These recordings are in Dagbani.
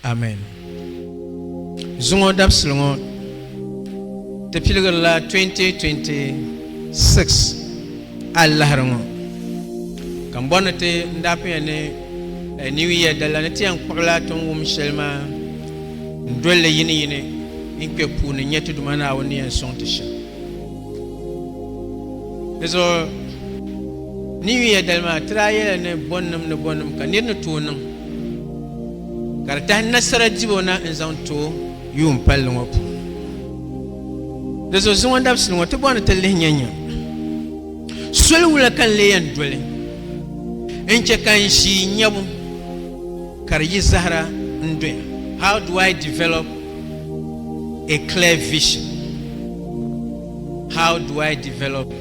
Amen. Zuŋɔ dabisili ŋɔ ti piligirila 2026 alahiri ŋɔ ka m bɔri ni ti n daa pinya ni eh, New Year dala ni ti yɛn kpuɣila ti ni wum shɛli maa n doli li yini yini n kpɛ puuni nyɛ ti Duuma Naawuni ni yɛn sɔŋ ti shɛm. Dizuɣu New Year dali maa ti daa yɛla ni bɔnnim ni bɔnnim ka nir ni tooi niŋ ka di tahi nasara dibo na n zaŋ to yuun palli ŋɔ puuni di zuɣu zuŋɔ dabisili ŋɔ ti bɔ ni ti lihi nyɛ nyɛ soli wula ka n lee yɛn doli n chɛ ka n ʒi nyɛbu ka di yi zahara n doya how do i develop a clear vision how do i develop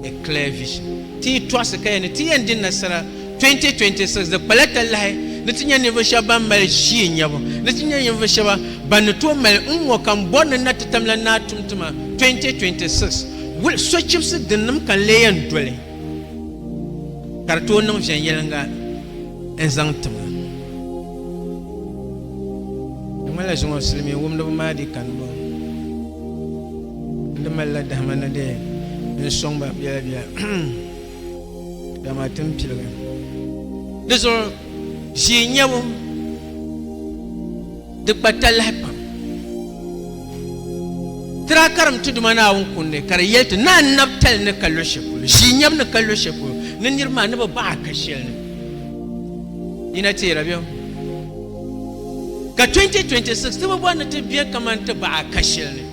a clear vision ti yi tɔɣisi ka yɛn ni ti yɛn di nasara 2026 di kpala talahi ni ti nya ninvuɣu shɛba ban mali ʒii nyabu ni ti nya ninvuɣu shɛba ban ni tooi mali n ŋɔ ka m bɔri ni na ti tamla Naa Tumtuma 2026 wul sochibisi dinnim ka n lee yɛn doli ka di tooi niŋ viɛnyɛliŋga n zaŋ ti ma. Di ŋmanila zuŋɔ silimiin wumdiba maa dii kani bɔŋɔ n di malila dahima ni di n sɔŋ ba biɛla biɛla. dama ti ni piligi di zuɣu ʒii nyɛbu di gba talahi pam tira karim tuduma naawuni kundi ka di yɛli ti naa nabi tali ni ka lo shɛli polo ʒii nyɛbu ni ka lo shɛli polo ni niriba maa ni bi baɣa ka shɛli ni yina teera bɛ ka 2026 ti bi bɔri ni ti bɛ kamani ti baɣa ka shɛli ni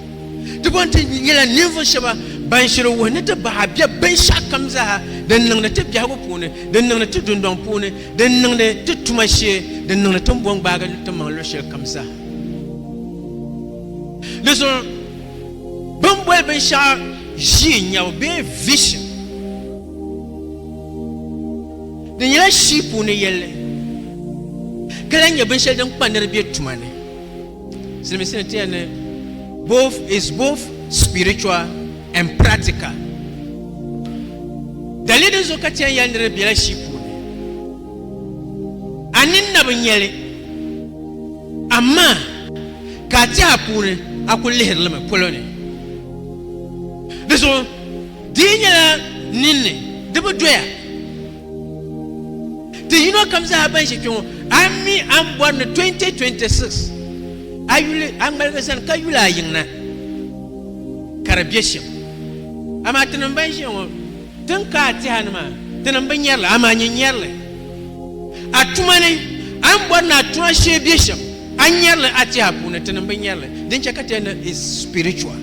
Ti bɔn ti nyɛla ninvuɣ shɛba ban shiri wuhi ni ti bahi bɛ binshɛɣukam zaa din niŋdi ti biɛhigu puuni, din niŋdi ti dundɔŋ puuni, din niŋdi ti tuma shee, din niŋdi ti ni bɔn gbaagi ti maŋ luɣ shɛli kam zaa. Di zuɣu bɛ ni boli binshɛɣu ʒii nyabu bee vision di nyɛla shii puuni yɛlli ka lahi nyɛ binshɛli din kpa nir bɛ tuma ni. Silimiinsi ni tiya ni both is both spiritual and practical. Dali din zuɣu ka tiya yɛli ni di bela shii puuni. A nini na bi nyɛli. Amaa ka a tiɛha puuni a kuli lihiri li mi polo ni. Di zuɣu di yi nyɛla ninni di bi doya. Ti yino kam zaa ban ʒe kpe ŋɔ, a mi a ni bɔri ni 2026 a yuli a ŋmaligi zani ka yuli a yiŋ na ka di be shɛm. Amaa tinim ban ʒiya ŋɔ, tin ka a tɛha ni maa, tinim bi nyari li, amaa nyin nyari li. A tuma ni a ni bɔri ni a tuma shee be shɛm, a nyari li a tɛha puuni, tinim bi nyari li. Din chɛ ka tɛha ni is spiritual.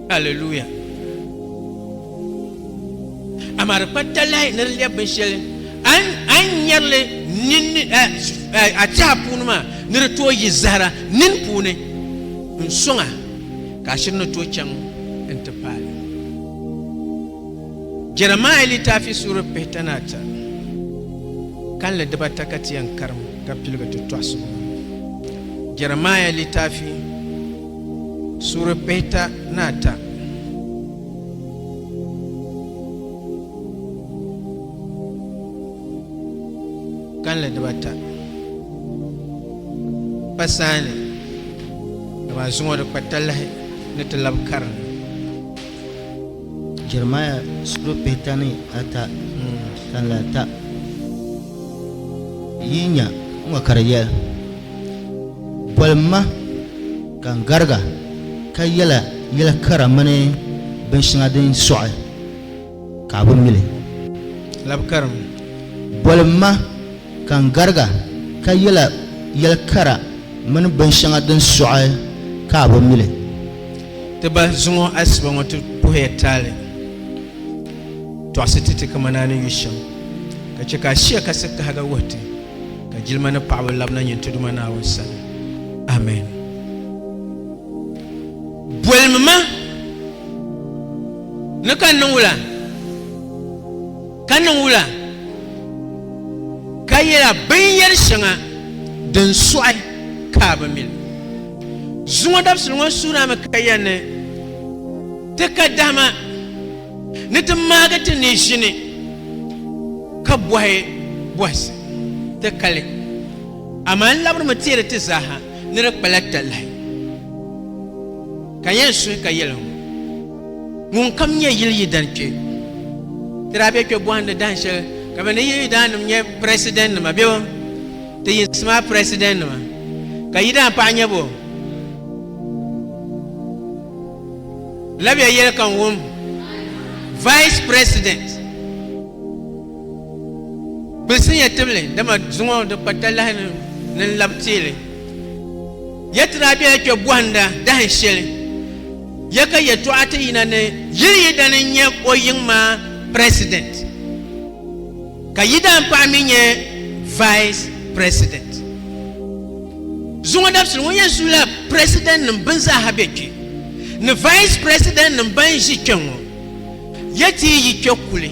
Hallelujah. Amaa di kpa talahi ni di lɛbi binshɛli a ni nyari li a tɛha puuni maa ni di tooi yi zahira nini puuni n-sɔŋ a ka a shiri ni tooi chaŋ nti paai li. Jɛrɛmiya litaafi suuri pihita ni ata kalinli dibata ka ti yɛn karim ka piligi ti tɔɣisigu ŋɔ. Jɛrɛmiya litaafi suuri pihita ni ata. Kanli dibata pa saha ni ka ba zuŋɔ di kpa talahi ni ti labi karinli Jeremiah suri pihita ni ata kanli ata yi nya ŋɔ ka di yɛli boli ma Ka n garig a ka yɛla yɛl kara mini binshɛŋa din sɔɣi ka a bi mi li. Labi karim. Boli m ma, ka n garig a ka yɛla yɛl kara mini binshɛŋa din sɔɣi ka a bi mi li. Ti ba, zuŋɔ asiba ŋɔ ti puhi ya taali tɔɣisi ti ti kamani a ni yu shɛm, ka chɛ ka a shia kasi kahiga wuhi ti. ka jilima ni paɣaba labina nyin ti Duuma Naawuni sani. Amen. Bolimi ma ni ka niŋ wula? Ka niŋ wula? Ka yɛla binyɛri shɛŋa din sɔɣi ka a bi mi li. Zuŋɔ dabisili ŋɔ suuna mi ka yɛn ni ti ka dahima. Ni ti maagi ti ni ʒini ka bɔhi bɔhisi ti kali, amaa n labirimi teeri ti zaaha ni di kpala talahi. Ka n yɛn suhi ka yɛli ŋɔ, Ŋunkam nyɛ yili yidana kpe. Ti daa be kpe bɔhindi dahin shɛli ka bɛ ni yili yidaannim nyɛ Presidentnima bebo, ti yinsi maa Presidentnima, ka yidaan paɣa nyɛ bo. Labiya yɛli ka n wum Vice President gbilisinya tibili dama zuŋɔ di kpa talahi ni n lab teeli. Ya ti daa bela kpe bɔhinda dahin shɛli ya ka yɛtɔɣa ti yina ni yili yi dani n-nyɛ o yiŋ maa President. Ka yi daan paɣa mi nyɛ vice president. Zuŋɔ dabisili ŋɔ yɛn su la president nim bini zaa ha bɛ kpɛ ni vice president nim ban zi kpɛ ŋɔ. Ya ti yi kpɛ kuli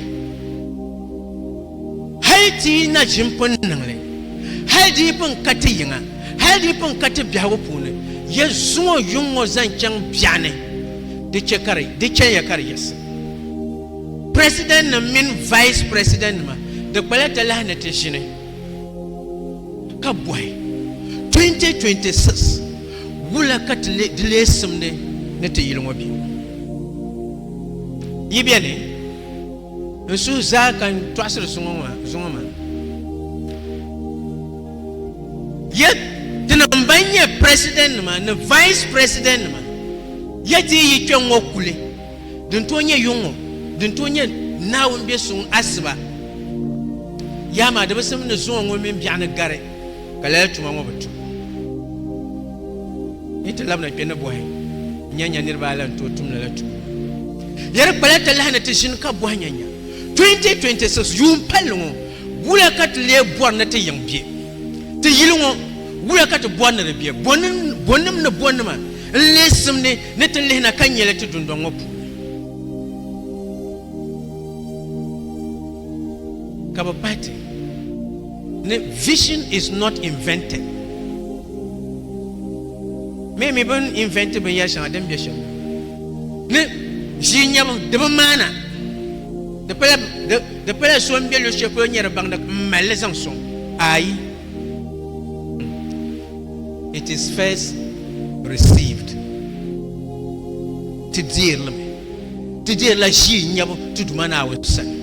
hali ti yi na ʒim pun niŋli hali di yi pun ka ti yiŋa hali di yi pun ka ti biɛhigu puuni ya zuŋɔ yuŋ ŋɔ zaŋ chaŋ biɛɣuni di chɛ ka di chɛ ya ka di yiɣisi. Presidentnim mini Vice Presidentnima di kpala talahi ni ti ʒini ka bɔhi, 2026 wula ka ti di lee simdi ni ti yili ŋɔ bɛ yi beni? N suhu zaa ka n tɔɣisiri zuŋɔ maa. Ya tinim ban nyɛ Presidentnima ni Vice Presidentnima, ya ti yi yi kpe ŋ-ŋɔ kuli. Din tooi nyɛ yuŋ ŋɔ, din tooi nyɛ Naawuni be suŋ asiba yaha maa di bi sim ni zuŋɔ ŋɔ mini biɛɣu ni gari ka lala tuma ŋɔ bi tum. Yi ti labina kpe ni bɔhi nya nya niriba ayi la ni tooi tum lala tuma ŋɔ. Di di kpala talahi ni ti ʒini ka bɔhi nya nya 2026 yuun palli ŋɔ wula ka ti lee bɔri ni ti yiŋ be? Ti yili ŋɔ wula ka ti bɔri ni di be? Bɔnim ni bɔnima. N leei simdi ni ti lihi na ka nya li ti dundɔŋ ŋɔ puuni ka bɛ pahi ti ni vision is not invented. Mee mi bini invent binyɛri shɛŋa din be shɛm ni ʒii nyɛbu di bi maana di pala so n be luɣushɛli polo nyɛ di baŋda m malli zaŋ sɔŋ ayi It is first received Ti deerimi Ti deerila ʒii nyabu ti Duuma Naawuni sani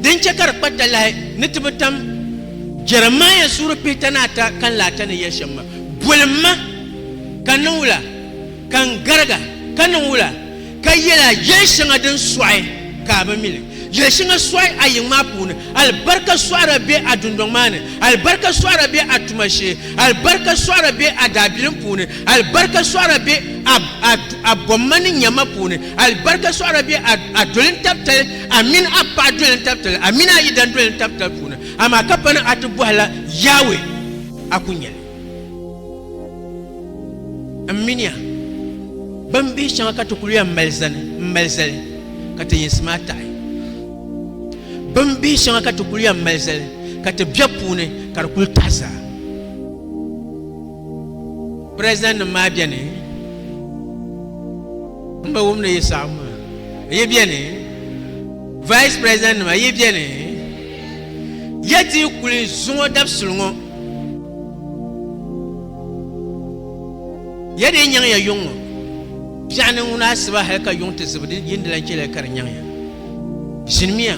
din chɛ ka di kpa talahi ni ti bi tam Jeremiah suuri pihita ni ata kanli ata ni yɛli shɛm ma, Boli m ma, ka n niŋ wula? Ka n gariga, ka niŋ wula? Ka yɛl a yɛn shɛŋa din sɔɣi ka a bi mi li. Yɛl shɛŋa sɔɣi a yiŋ maa puuni. Alibarika sɔɣira be a dundɔŋ maa ni. Alibarika sɔɣira be a tuma shee. Alibarika sɔɣira be a daabilim puuni. Alibarika sɔɣira be a, a, a bɔmma ni nyama puuni. Alibarika sɔɣira be a, a dolintabitali, a mini a paɣ dolintabitali, a mini a yidandolintabilitali puuni. Amaa ka pa ni a ti bɔhi la Yawɛ, a ku nya li. M miniya, bin bihi shɛŋa ka ti kul yɛn mali zani m-mali zali ka ti yinsi maa taɣi. Bin bihi shɛŋa ka ti kul yɛn mali zali ka ti bɛ puuni ka di kul taɣi zaa. Prezidannim maa beni m-bi wum ni yi saɣim maa. Yi beni, Vice Prezidannim maa yi beni. Ya ti yi kuli zuŋɔ dabisili ŋɔ, ya dii nyaŋ ya yuŋ ŋɔ biɛɣu ni ŋuna asiba hal ka yuŋ ti zibi di yini di lan chɛliya ka di nyaŋ ya. Ʒinimiya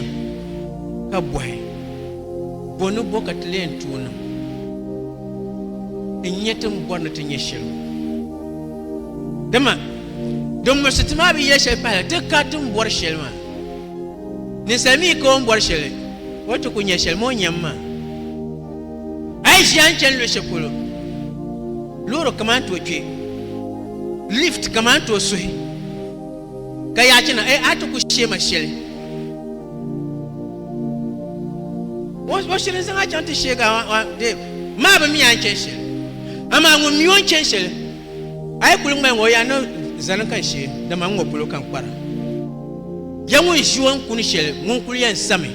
ka bɔhi, Bɔ ni bɔ ka ti leen tooi niŋ n-nyɛ ti ni bɔri ni ti nyɛ shɛli ŋɔ? Dama din muɣisi ti maa bi yɛli shɛli pahila ti ka ti ni bɔri shɛli maa. Ninsal mi ka o ni bɔri shɛli, o ti ku nya shɛli moo nyam maa. A yi ʒiya n-chani luɣ shɛli polo, loori kama n-tooi kpe, lift kama n-tooi suhi, ka yaa chana, a ti ku sheema shɛli. O shiri n-zaŋ a chaŋ ti sheeg a, Dave, maa bi mi a ni chani shɛli, amaa ŋun mi o ni chani shɛli. A yi kuli ŋmai ŋɔ, yaa niŋ zani ka n she, dama n ŋɔ polo ka n kpara. Ya ŋun ʒi o ni kuni shɛli ŋun kul yɛn sami,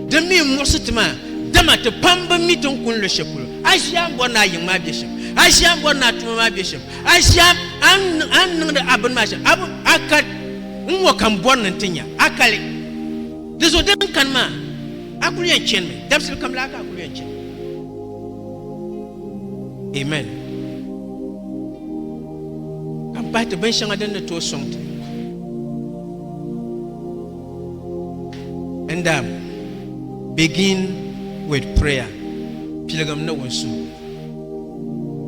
Di mi n-muɣisi ti maa, dama ti pam bi mi ti ni kuni luɣ shɛli polo. A ʒi a ni bɔri ni a yiŋ maa be shɛm, a ʒi a ni bɔri ni a tuma maa be shɛm, a ʒi a a ni niŋdi a bini maa shɛm, a bi a kal n ŋɔ ka m bɔri ni n ti nya a kali. Di zuɣu din kani maa, a kul yɛn chanimi, dabisili kam laa ka a kul yɛn chanimi. Amen. Ka n pahi ti binshɛŋa din ni tooi sɔŋ ti. And um, begin with prayer. Piligim ni wunsuhu.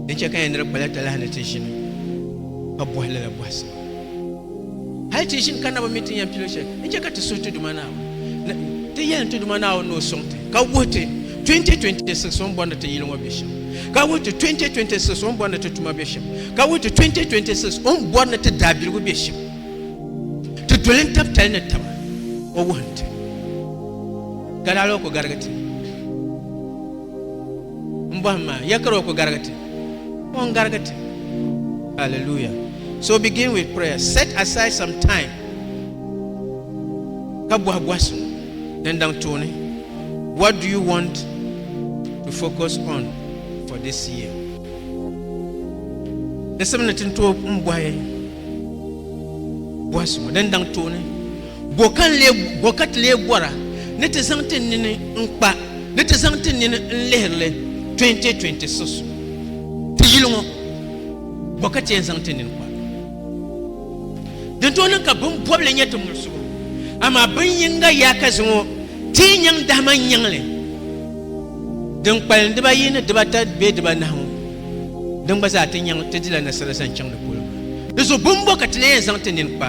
Di chɛ ka yɛn niri kpala talahi ni ti ʒini ka bɔhi lala bɔhisi. Hali ti ʒim ka na bi mi ti ni yɛn pili shɛli, n-chɛ ka ti suhi ti Duuma Naawuni. Ti yɛlim ti Duuma Naawuni ni o sɔŋ ti, ka wuhi ti 2026 o ni bɔrindi ti yili ŋɔ be shɛm, ka wuhi ti 2026 o ni bɔrindi ti tuma be shɛm, ka wuhi ti 2026 o ni bɔrindi ti daabiligu be shɛm. Ti doli n-tab tali ni taba, o wuhim ti. Gari hal o ku garigi ti. M bɔhim maa, ya kari o ku garigi ti. Ŋun garigi ti. Hallelujah. So begin with prayer. Set aside some time. Ka bɔhi bɔhisi din daŋ tooni. What do you want to focus on for this year? Nisim ni tin tooi n bɔhi bɔhisi ŋɔ din daŋ tooni. Bo ka ti lee bɔra ni ti zaŋ ti nini n-kpa ni ti zaŋ ti nini n-lihiri li 2020 sus ti yili ŋɔ? Bo ka ti yɛn zaŋ ti nini kpa? Din tooi niŋ ka bini bɔbili nyɛ ti muɣisigu, amaa bin yiŋga yaakazi ŋɔ ti yi nyaŋ dahima n-nyaŋ li, din kpalim dibaayi ni dibata bee dibanahi ŋɔ, din gba zaa ti nyaŋ ti dila nasara zaŋ chaŋ ni polo maa. Di zuɣu bini bɔ ka ti lee yɛn zaŋ ti nini kpa?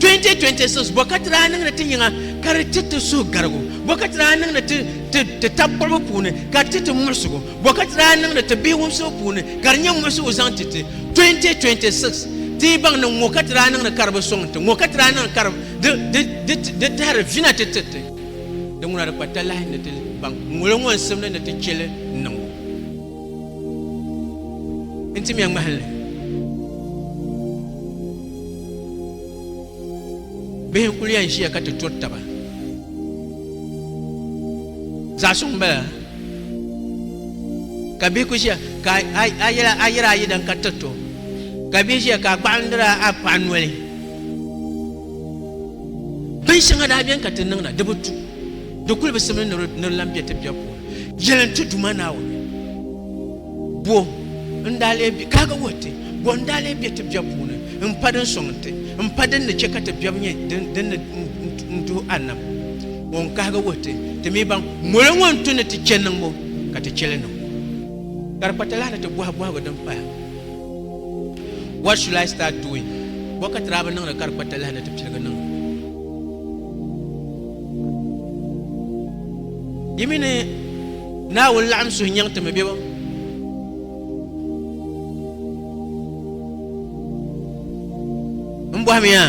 2026 bɔkati daa niŋdi ti yiŋa ka di ti ti suhugarigu bɔkati daa niŋdi ti ti ti tab kpɔribu puuni ka di ti ti muɣisigu bɔkati daa niŋdi ti bihi wumsibu puuni ka di nyɛ muɣisigu zaŋ ti ti 2026 ti yi baŋ ni ŋɔ ka ti daa niŋdi ka di bi sɔŋ ti ŋɔ ka ti daa niŋdi ka di di di di di tahiri vina ti ti ti di ŋuna di kpa talahi ni ti baŋ ŋuli ŋɔ n simdi ni ti cheli niŋbu n ti mɛ ŋmahinli bihi n kuli yɛn ʒiya ka ti turi taba zaɣ suŋ bala ka bihi ku ʒiya ka a yɛra ayi dan ka tirito ka bihi ʒiya ka a kpaɣandira a paɣa noli bin shɛŋa daa biɛni ka ti niŋda di bi tu di kuli bi simli ni di lan bɛ ti biɛ puuni yɛlin tu duma naawuni Bɔ n daa lee be, kaaga wuhi ti, bɔ n daa lee be ti biɛbu puuni m-pa din sɔŋ nti, m-pa din ni chɛ ka ti biɛbu nyɛ din ni n-tuhi a nam? Bɔ n kaaga wuhi ti, ti mi ban moli ŋɔ n-tu ni ti chɛ niŋbu, ka ti chɛ li niŋbu? Ka di kpatalahi ni ti bɔhi bɔhigu din paya, What should I start doing? Bɔ ka ti daa bi niŋdi ka di kpatalahi ni ti piligi niŋdi? Yi mi ni. Naawuni laɣim suhu nyaŋ ti mi bebo? Mbɔhimiya,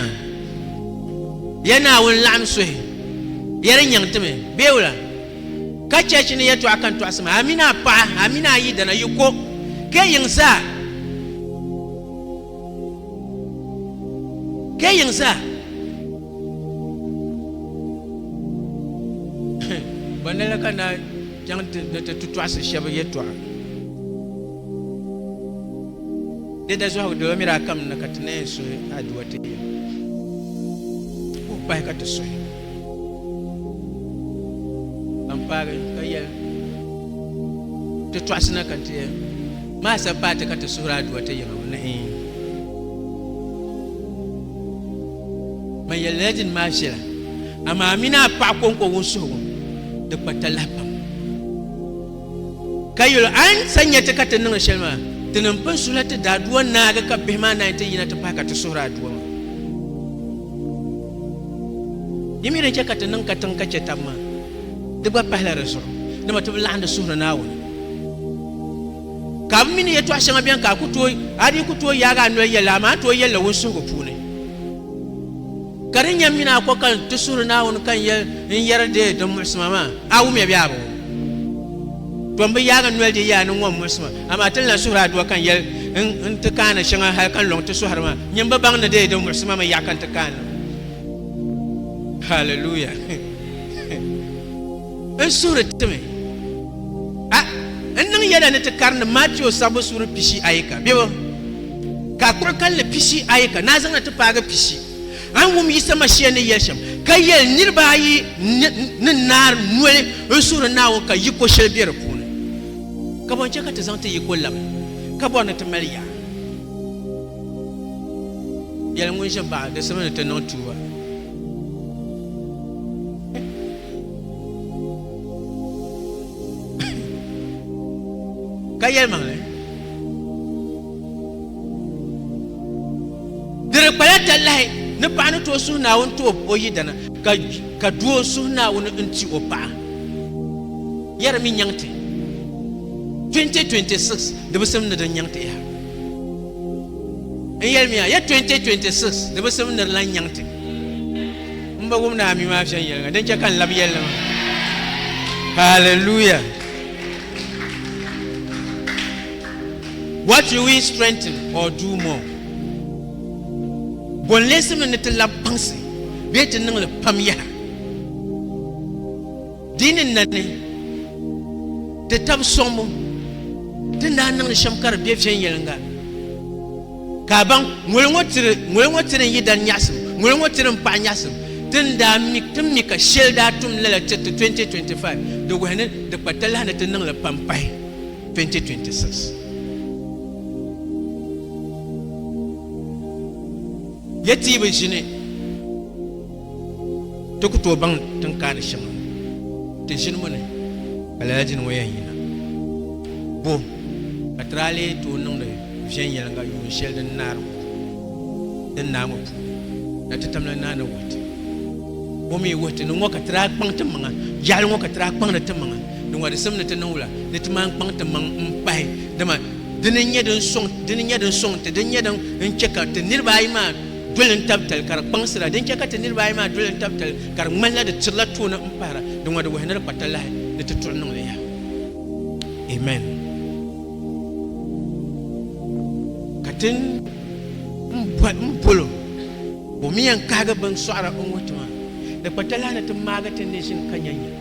ya Naawuni laɣim suhi yɛli nyaŋ ti mi bebo la? Ka chɛchi ni yɛtɔɣ kan tɔɣisi ma, Amina paɣa, amina ayidana, yi ko, ka yi yiŋ zaa. Kɛ yiŋ zaa. Bɔ ni la ka na chaŋ ti ni ti tu tɔɣisi shɛba yɛtɔɣa? Di daa zɔhigu di ba miri a kam ni ka ti na yɛn suhi a duwa ti yɛm, ka o pahi ka ti suhi. Ban paagi ka yɛli, Ti tɔɣisi na ka ti maai sabi paai ti ka ti suhiri aduwa ti yiŋa ŋɔ ni in. Ban yɛli lala dini maa viɛla, amaa a mini a paɣa kɔŋko wunsuhigu di kpa talahi pam. Ka yuli a ni sa nya ti ka ti niŋ shɛli maa, ti ni pun suhi la ti daadua naagi ka bihi maa naai ti yina ti pahi ka ti suhiri a dua maa. Yi mi din chɛ ka ti niŋ katiŋ ka chɛ tab maa, di gba pahila di zuɣu, dama ti bi laɣindi suhiri Naawuni. Ka bi mi ni yɛtɔɣ shɛŋa beni ka a ku tooi, a dii ku tooi yaagi a noli yɛli li, amaa a tooi yɛli li wunsuhigu puuni. Ka di nyɛ mini a ko ka n ti suhiri Naawuni ka n yɛli n yɛri deei din muɣisi ma maa, a wumya bee a bi wum? To m bi yaag n noli deei ya ni ŋɔ muɣisi ma, amaa ti ni lan suhir a duwa ka n yɛli n ti kaani shɛŋa hal ka n lɔŋ ti sɔhiri maa. Nyin bi baŋ ni deei din muɣisi ma mi yaɣi ka n ti kaani li. Haleluya! N suhiri ti mi a n niŋ yɛla ni ti karindi Matio sabbu suuri pishi ayi ka biɛbu ka a kpuɣi kalinli pishi ayi ka naa zaŋna ti paagi pishi ayi wum Yisa Mashia ni yɛli shɛm ka yɛli niriba ayi ni naari noli n suhiri Naawuni ka yiko shɛli be di puuni. Ka bɔ n-chɛ ka ti zaŋ ti yiko labi ka bɔri ni ti mali yaɣa? Yɛli ŋun ʒe baɣa di simi ni ti niŋ tuuba. ka yɛli maŋli di di kpala talahi ni paɣa ni tooi suhu naawuni ti o yidana ka ka doo suhu naawuni n ti o paɣa yɛri mi nyaŋti 2026 di bi sim ni din nyaŋti yaha n yɛli miya ya 2026 di bi sim ni di lan nyaŋti N ba wum ni a mi maa viɛnyɛliŋga, din chɛ ka n lab yɛli ni maa. Hallelujah! What will we strengthen or do more? Bɔ n-leesimni ni ti lab kpaŋsi bee ti niŋ li pam yaha? Di ni nani ti tab sɔŋbu ti ni daa niŋdi shɛm ka di be viɛnyɛliŋga. Ka a baŋ, ŋoli ŋɔ tiri, ŋoli ŋɔ tiri n yi dan nyaɣisim, ŋoli ŋɔ tiri n paɣi nyaɣisim. Ti ni daa mi, ti mi ka sheli daa tum lala tiriti 2025, di wuhi ni di kpa talahi ni ti niŋ li pam pahi 2026. Ya ti yi bi ʒini. Ti ku tooi baŋ ti ni kaani shɛm ti ʒinimi ni ka lala di ni ŋɔ yɛn yina. Bo ka ti daa lee tooi niŋdi viɛnyɛliŋga yuun shɛli din naari ŋɔ din naai ŋɔ puuni na ti tamla naa ni wuhi ti? Bo mi wuhi ti ni ŋɔ ka ti daa kpaŋ timaŋa yaɣili ŋɔ ka ti daa kpaŋdi timaŋa di ŋɔdisim ni ti niŋ wula ni ti maan kpaŋ timaŋ m-pahi dama dini n-nyɛ din sɔŋ ti din nyɛ din chɛ ka ti niriba ayi maa doli n tabi tali ka di kpaŋsira din chɛ ka ti niriba ayi maa doli n tabi tali ka di ŋmanila di tirila tooni n pahira di ŋɔ di wuhi ni di kpa talahi ni ti tuɣi niŋli yaha amen ka tin n bolo o mi yɛn kahigi bin sɔɣira n wuhi ti maa di kpa talahi ni ti maagi ti neeshin ka nyanya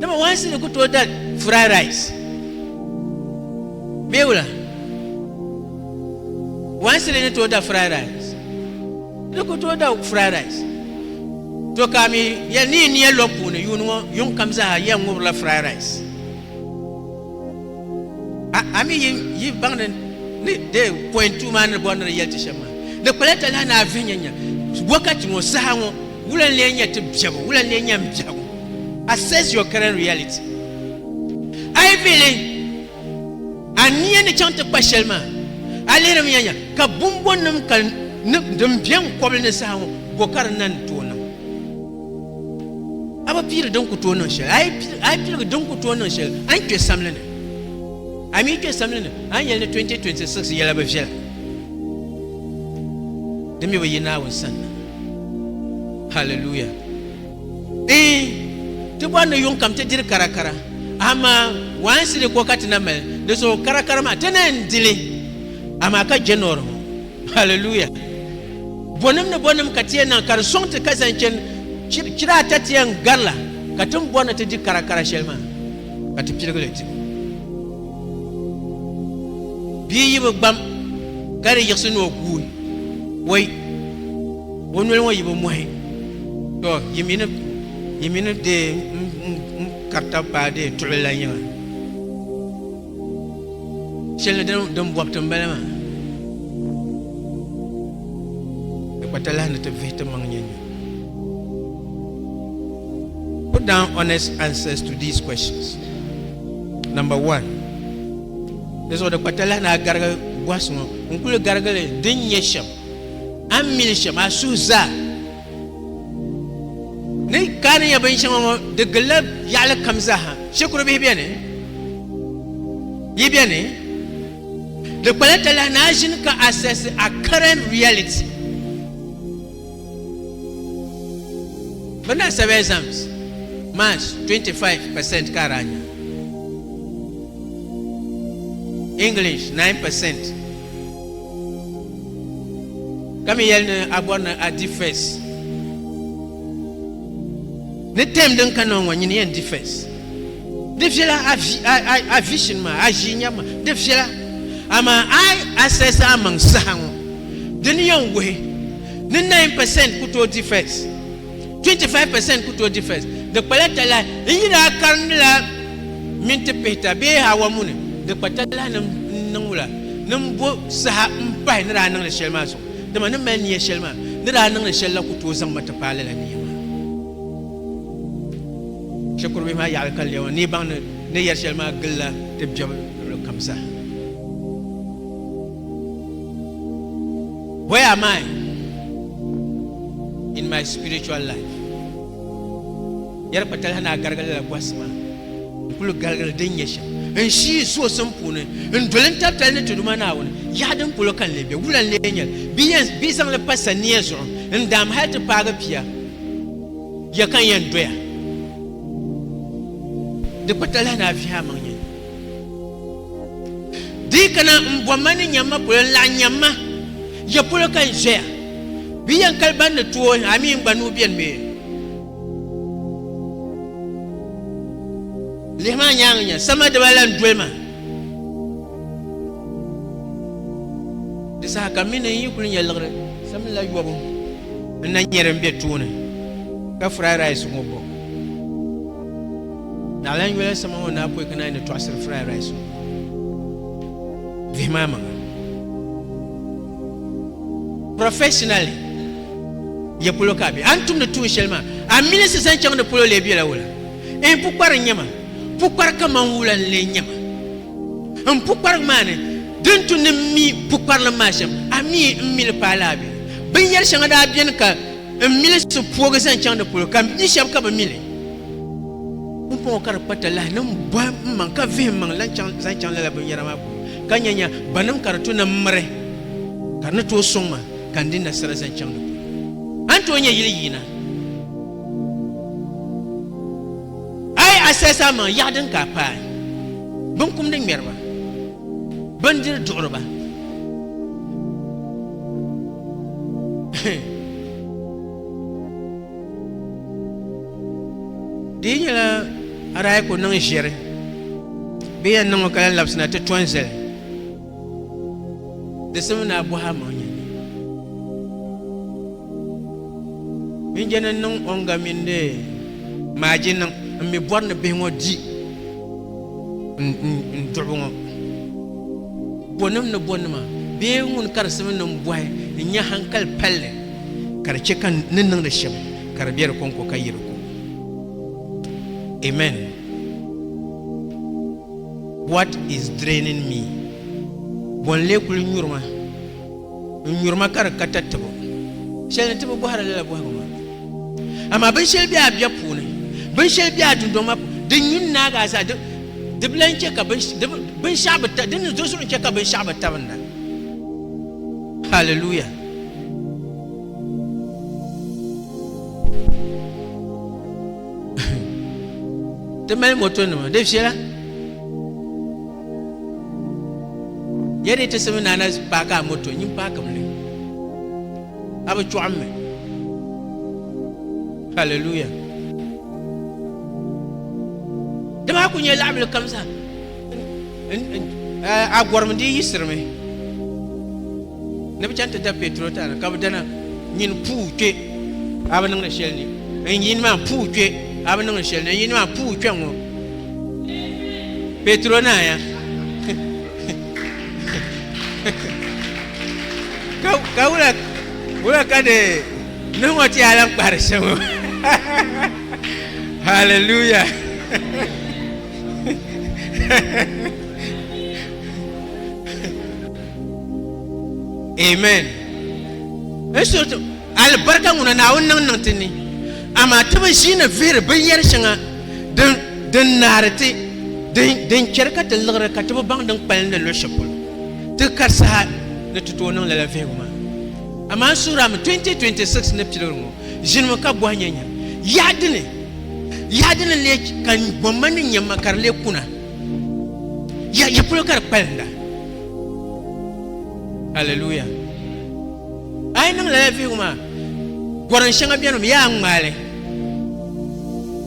dama waansi ni ku tooi da fry rice bee wula waansi ni ni tooi da fry rice ni ku tooi da fry rice to ka mi yɛli ni yi niya lɔb puuni yuuni ŋɔ yuŋ kam zaa yɛn ŋubirila fry rice A mi yi baŋ ni ni dee pɔin tuuma ni bɔri ni di yɛli ti shɛm maa di kpala ta lahi naa vihi nyanya wakati ŋɔ saha ŋɔ wula n-lee nyɛ ti biɛbu wula n-lee nyɛ m biɛhigu assess your current reality a yi vihi li a nia ni chaŋ ti kpa shɛli maa a lihirimi nyanya ka bumbɔnnim ka din biɛ n kɔbili ni saha ŋɔ bɔ ka di na ni tooi niŋ A bi piiri din ku tooi niŋ shɛli, a yi piligi din ku tooi niŋ shɛli, a ni kpe samli ni. A mi yi kpe samli ni, a ni yɛli ni 2026 yɛla bi viɛla. Di mi bi yi Naawuni sanna. Hallelujah. Ee, ti bɔri ni yuŋ kam ti diri karakara, amaa waansi di ko ka ti na mali di zuɣu karakara maa, ti ni yɛn dili, amaa ka January ŋɔ. Hallelujah. Bɔnim ni bɔnim ka ti yɛn niŋ ka di sɔŋ ti ka zaŋ chani chir- chira ata ti yɛn gari la ka tin bɔri ni ti di kara kara shɛli maa ka ti piligi li ti bia yibu gbam ka di yiɣisi ni o guui wai o noli ŋɔ yibu mɔhi to yi mini yi mini dee n- n- n karita paa dee tuɣili la nyɛma Shɛli ni din bɔbi ti m-bala maa. Di kpa talahi ni ti vihi ti maŋ nyɛnyini. Put down honest answers to these questions. Number one. Di zuɣu di kpa talahi ni a garigi bɔhisi ŋɔ. N kuli garigili din nyɛ shɛm. A ni mili shɛm, a suhu zaa. Din kaani nyɛ binshɛŋa ŋɔ di gilla yaɣili kam zaaha shikuru bihi bɛni yi bɛni di kpala talahi ni a ʒini ka assess a current reality bi na sab exams march 25 percent ka ara nya english 9 percent Ka mi yɛli ni a bɔri ni a di fɛs. Ni tɛm din ka nɔŋ ŋɔ nyini yɛn di fɛs. Di viɛla a vision maa, a ʒii nyɛbu maa, di viɛla. Amaa a yi assess a maŋ saha ŋɔ, dini yɛn wuhi ni nine percent ku tooi di fɛs. 25% ku tooi di fɛs, di kpala talahi. N yi daa karindila minti pihita bee hawa muni, di kpa talahi ni n niŋ wula ni m bo saha m-pahi ni daa niŋ li shɛli maa zuɣu. Dama ni mali nia shɛli maa ni daa niŋ li shɛli la ku tooi zaŋ ma ti paai lala nia maa. Shikurubihi maa yaɣili ka lɛm o ni yi baŋ ni ni yɛri shɛli maa gilila ti biɛbu luɣili kam zaa. Where am I in my spiritual life? Yɛri kpatali na garigili la bɔhisi maa n kuli garigili din nyɛ shɛm n shii zuɣusim puuni n doli n tabitali ni tuduma Naawuni yaɣa din polo ka n lee be wula n lee nyɛli bɛ yɛn bɛ zaŋli pa sania zuɣu n daam hali ti paagi pia ya ka n yɛn doya di kpatali na vihi amaŋ Di kana n bɔ ma ni nyamma polo n laɣi nyamma ya polo ka n zɔya bi yɛn kali ban ni tooi a mi n gba nuu bɛni mi lihi maa nyaanga nya sama diba la n doli ma di saha ka mi ni n yi kuli nyɛ liɣiri sami la yɔbu n na nyɛ din bɛ tooni ka fry rice ŋɔ bɔ Naɣilan yoli sama ŋɔ naa pɔi ka naa yi ni tɔɣisiri fry rice ŋɔ vihimaa maŋa. Professionally ya polo ka a be a ni tumdi tuun shɛli maa a mi ni si zaŋ chaŋ di polo lee bela wula ee n pukpari n nyɛma pukpari kaman wula n lee nyɛma n pukparigu maa ni din tu ni m mi pukparilim maa shɛm a mi n mi li paai laa be binyɛri shɛŋa daa beni ka N mili so puogi zaŋ chaŋ di polo, ka m bia shɛba ka bɛ mili. Pumpɔŋɔ ka di kpa talahi ni m bɔhi m maŋ ka vihim maŋ lan chaŋ zaŋ chaŋ lala binyɛra maa polo, ka nya nya banim ka di to ni m miri, ka di ni tooi sɔŋ ma ka n di nasara zaŋ chaŋ di polo. A ni tooi nya yili yiina. A yi a sɛsi a maŋ yaɣi din ka a paai, binkumdi ŋmɛriba, bindiri duɣiriba, di yi nyɛla arahi ku niŋ ʒiɛri bee yɛn niŋ o ka yɛn labisina ti tɔn zali di simi ni a bɔhi amaŋ nyɛ binjɛni niŋ o nga mini maaji niŋ n mi bɔri ni bihi ŋɔ di n duɣibu ŋɔ bɔnim ni bɔnima bee ŋun ka di simi ni n bɔhi n nya hankali palli ka di chɛ ka ni niŋdi shɛm ka di be di kɔŋko ka yi di ko amen what is draining me bɔ n lee kuli nyuri ma n nyuri ma ka di ka tatabo shɛli ni ti bi bɔhiri lala bɔhigu maa amaa binshɛli be a bia puuni binshɛli be a dundɔŋ maa puuni din nyu n-naagi a zaa di bi lan chɛ ka binshɛɣu bi ta din ni do zuɣu chɛ ka binshɛɣu bi tabinda hallelujah ti mali motonima di viɛla Ya dee ti simi naana paaki a moto nyin paaki mi li. A bi chɔɣim mi. Haleluya. Di maa ku nyɛ laɣibili kam zaa. A gɔrim di yiɣisirimi ni bi chani ti da petro tana ka bi dana nyin puu kpe a bi niŋdi shɛli ni n yini maa puu kpe a bi niŋdi shɛli ni n yini maa puu kpe ŋɔ Petro naaya ka wula wula ka de niŋ o ti yaa lan kpahiri shɛm o hallelujah amen n Alibarika ŋuna Naawuni niŋ niŋ ti ni, amaa ti bi ʒiini vihiri binyɛr shɛŋa din naari ti, din chɛri ka ti liɣiri ka ti bi baŋ din kpalim ni lo shɛl polo. Ti kari saha ni ti tooi niŋ lala vihigu maa. Amaa suurami 2026 ni piligiri ŋɔ ʒinimi ka bɔhi nyanya, Yaɣa dini? Yaɣa dini n-lee ka gomma ni nyamma ka di lee kuna? Ya polo ka di kpalinda? Alleluia! A yi niŋ lala vihigu maa, gɔrim shɛŋa beni mi yaa ŋmaai li.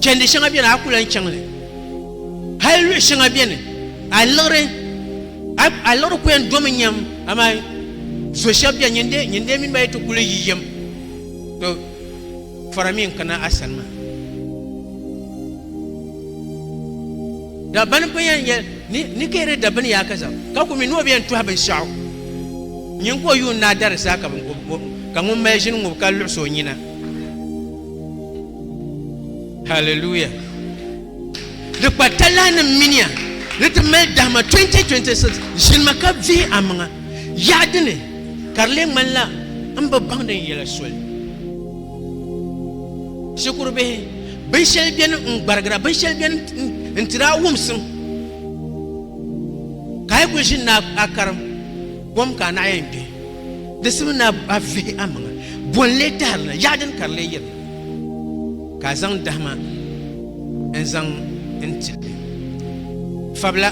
Chɛndi shɛŋa beni a ku lan chaŋ li. Hal luɣ shɛŋa beni a liɣiri a liɣiri ku yɛn domi nyam amaa zo shɛb beni nyin dee mini ba yi ti kuli yi yɛm. Fɔra mi n-kana a sani maa. Dabbani pa yɛn yɛl ni ni kihiri dabbini yaa ka zaŋ, ka ku mi ni o bi yɛn tɔhi binshɛɣu. Nyin ka o yuun daa dari zaa ka bini ku o, ka ŋun mali ʒini ŋub ka luɣis o nyina. Hallelujah! Di kpa talahinim minia ni ti mali dahima 2026 ʒinima ka vihi amaŋa. Yaɣi dini. Ka di lee ŋmanila n bi baŋ din yɛla soli. Shikuru bihi, binshɛli beni n-gbarigira, binshɛli beni n-tiri a wumsim. Ka a yi kuli ʒini ni a karim kom ka a naɣi yɛn kpe, di simi ni a vihi a maŋa, bo n-lee tahiri na, yaɣi dini ka di lee yiri na, ka a zaŋ dahima n-zaŋ n-ti li? Fabila.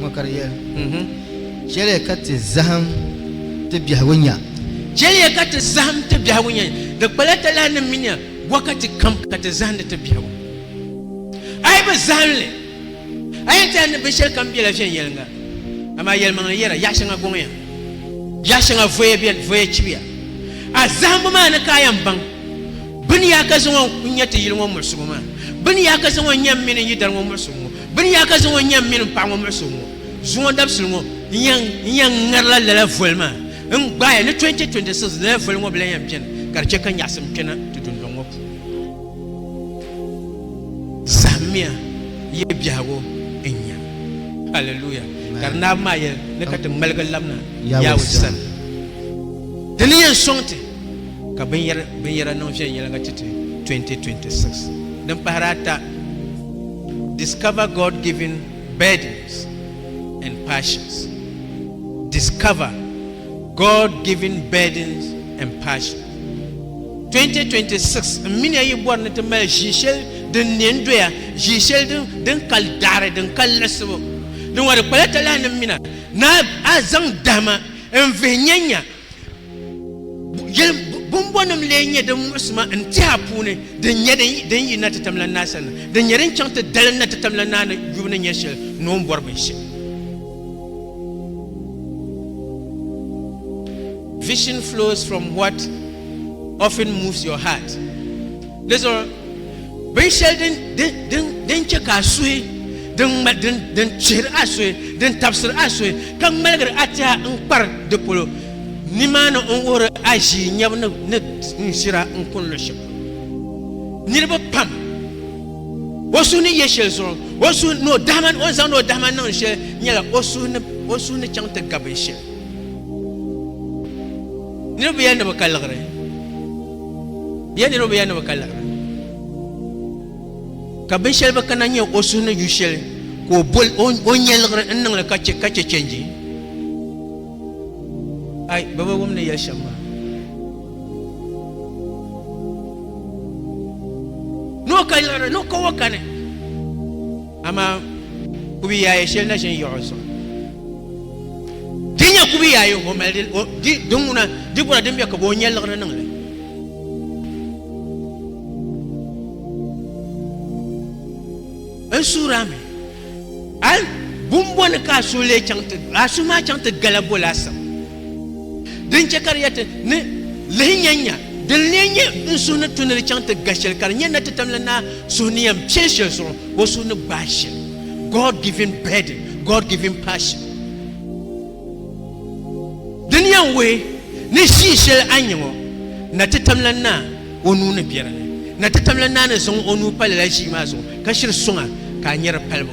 Ŋɔ ka di yɛli. Chɛliya ka ti zahim ti biɛhigu nya. Chɛliya ka ti zahim ti biɛhigu nya. Di kpala talahinim mini bɔkati kam ka ti zahindi ti biɛhigu. A yi bi zahim li, a yɛn tiɛhi ni binshɛlikam bela viɛnyɛliŋga. Amaa yɛlimaŋli yɛra, Yaɣ shɛŋa gɔŋya, yaɣ shɛŋa voya beni, voya chibiya. A zahimbu maa ni ka a yɛn baŋ bɛ ni yaa ka zaŋɔ n-nya ti yili ŋɔ muɣisigu maa, bɛ ni yaa ka zaŋɔ n-nya m mini n yidari ŋɔ muɣisigu ŋɔ. Bɛ ni yaa ka zaŋ o nyam mini m paɣ ŋɔ muɣisi ŋɔ zuŋɔ dabisili ŋɔ, n yan n yan ŋarila lala voli maa n gbaai ni 2026 lala voli ŋɔ bi lan yan beni ka di chɛ ka nyaɣisim kpɛna ti dundɔŋ ŋɔ puuni. Zahimmiya ya biɛhigu n-nya. Hallelujah! Ka di naai maa yɛli ni ka ti ŋmaligi labina Yawɛ sani. Di ni yɛn sɔŋ ti ka binyɛra niŋ viɛnyɛliŋga ti ti 2026 din pahiri ata. Discover God-given burdens and passions. Discover God-given burdens and passions. 2026 n mini yi bɔri ni ti mali ʒii shɛli din ne n doya ʒii shɛli din kali daɣari din kali liɣisibu din ŋɔ di kpala talahi ni mina ni a zaŋ dahima n vihi nyanya Bumbonim lee nyɛ din muɣisi ma n-tiha puuni din nyɛ din yi na ti tam la naa sani, din nyɛ din chaŋ ti dalim na ti tam la naa ni yubu ni nya shɛli ni o ni bɔri binshɛli. Vision flows from what often moves your heart. Di zuɣu binshɛli din din din din chɛ ka a suhi din ŋma din din chihiri a suhi din tabisiri a suhi ka ŋmaligiri a tɛha n kpari di polo nimaani n wuhiri a ʒii nyɛbu ni ni n ʒira n kuni luɣ shɛli polo niriba pam o suhu ni yɛ shɛli zuɣu o suhu ni o dahima o ni zaŋdi o dahima niŋdi shɛli nyɛla o suhu ni o suhu ni chaŋ ti ga binshɛli niriba yɛli ni bi ka liɣiri Ya niriba ya ni bɛ ka laɣiri ka binshɛli bi kana nyɛ o suhu ni ju shɛli ka o boli o nyɛliɣiri n niŋli ka chɛ ka chɛ chɛnji ai bɛ bi wum ni yɛli shɛm maa ni o ka liɣiri ni o ka o kani Amaa kubiyaaye shɛli na ʒin yaɣu zuɣu. Di nyɛ kubiyaaye o mali di ŋuna di gura din bɛ ka o nyɛ liɣiri niŋ li. N suura mi a bumbɔni ka a suhi lee chaŋ ti a suhi maa chaŋ ti gala bo laasabu. Din chɛ ka di yɛti ni lihi nyanya, din lee nyɛ n suhu ni tu ni di chaŋ ti ga shɛli ka di nyɛ natitamli naa suhu ni yɛn piɛ shɛli zuɣu, o suhu ni gbaai shɛli. God-given burden, God-given passion. Di ni yɛn wuhi ni ʒii shɛli a ni nya ŋɔ, natitamla naa o nuu ni be di ni. Natitamla naa ni zaŋ o nuu pa lala ʒii maa zuɣu ka shiri suŋ a ka a nyari palibu.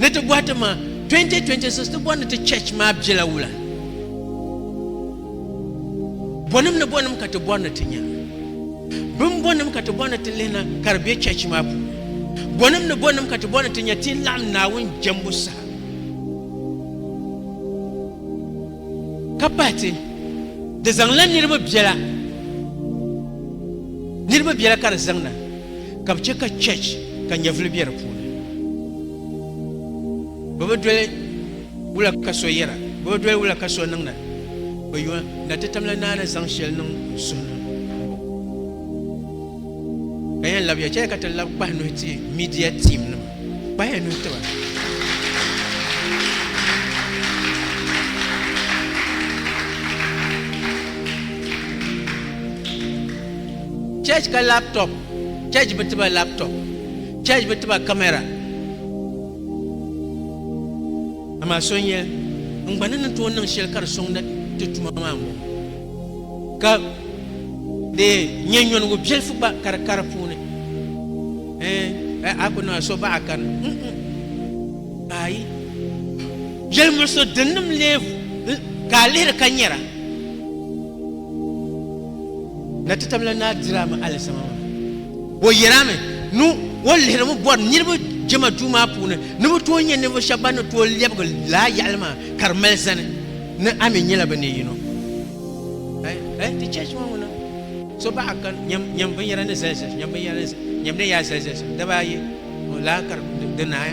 Ni ti bɔhi ti ma, 2026 ti bɔri ni ti church maa bela wula? Bɔnim ni bɔnim ka ti bɔri ni ti nya? Bim bɔnim ka ti bɔri ni ti lihina ka di be church maa puuni? Bɔnim ni bɔnim ka ti bɔri ni ti nya ti ni laɣim Naawuni jɛmbu saha ka pahi ti di zaŋla niriba bela niriba bela ka di zaŋ na? Ka bɛ chɛ ka church ka nyɛvili be di puuni. Bɛ bi doli wula ka so yɛra, bɛ bi doli wula ka so niŋda. Bɛ yuun na ti tamla naa ni zaŋ shɛli niŋ n suhu ni m-bɔ. Ka yɛn labiya chɛli ka ti labi kpahi nuhi ti media team nima. Kpahiya nuhi ti ba. Church ka laptop, church bi tiba laptop, church bi tiba camera. Amaa so n-yɛl, n gba ni ni tooi niŋ shɛli ka di sɔŋ na ti tuma maa m-bɔŋɔ. Ka di nyɛ nyɔnigu biɛlifu gba ka di ka di puuni. A ku niŋla so baɣa a kani. Ayi. Yɛlimuɣisigu dinnim leebu ka a lihiri ka nyɛra. Na ti tabila naa dirami alizama maa. O yɛlami ni o lihirimi bɔri niriba jɛma duu maa puuni ni bɛ tooi nyɛ ninvuɣu shɛba ban ni tooi lɛbigi laa yaɣili maa ka di mali zani ni a mi nyɛla bɛ ni yino. Ayi, ti chɛchi ŋɔ ŋuna so baɣa kani nyam binyɛra ni zali zali shɛm, nyam binyɛra ni nyamdi ni yaa zali zali shɛm daba ayi. O lahi kari di naai.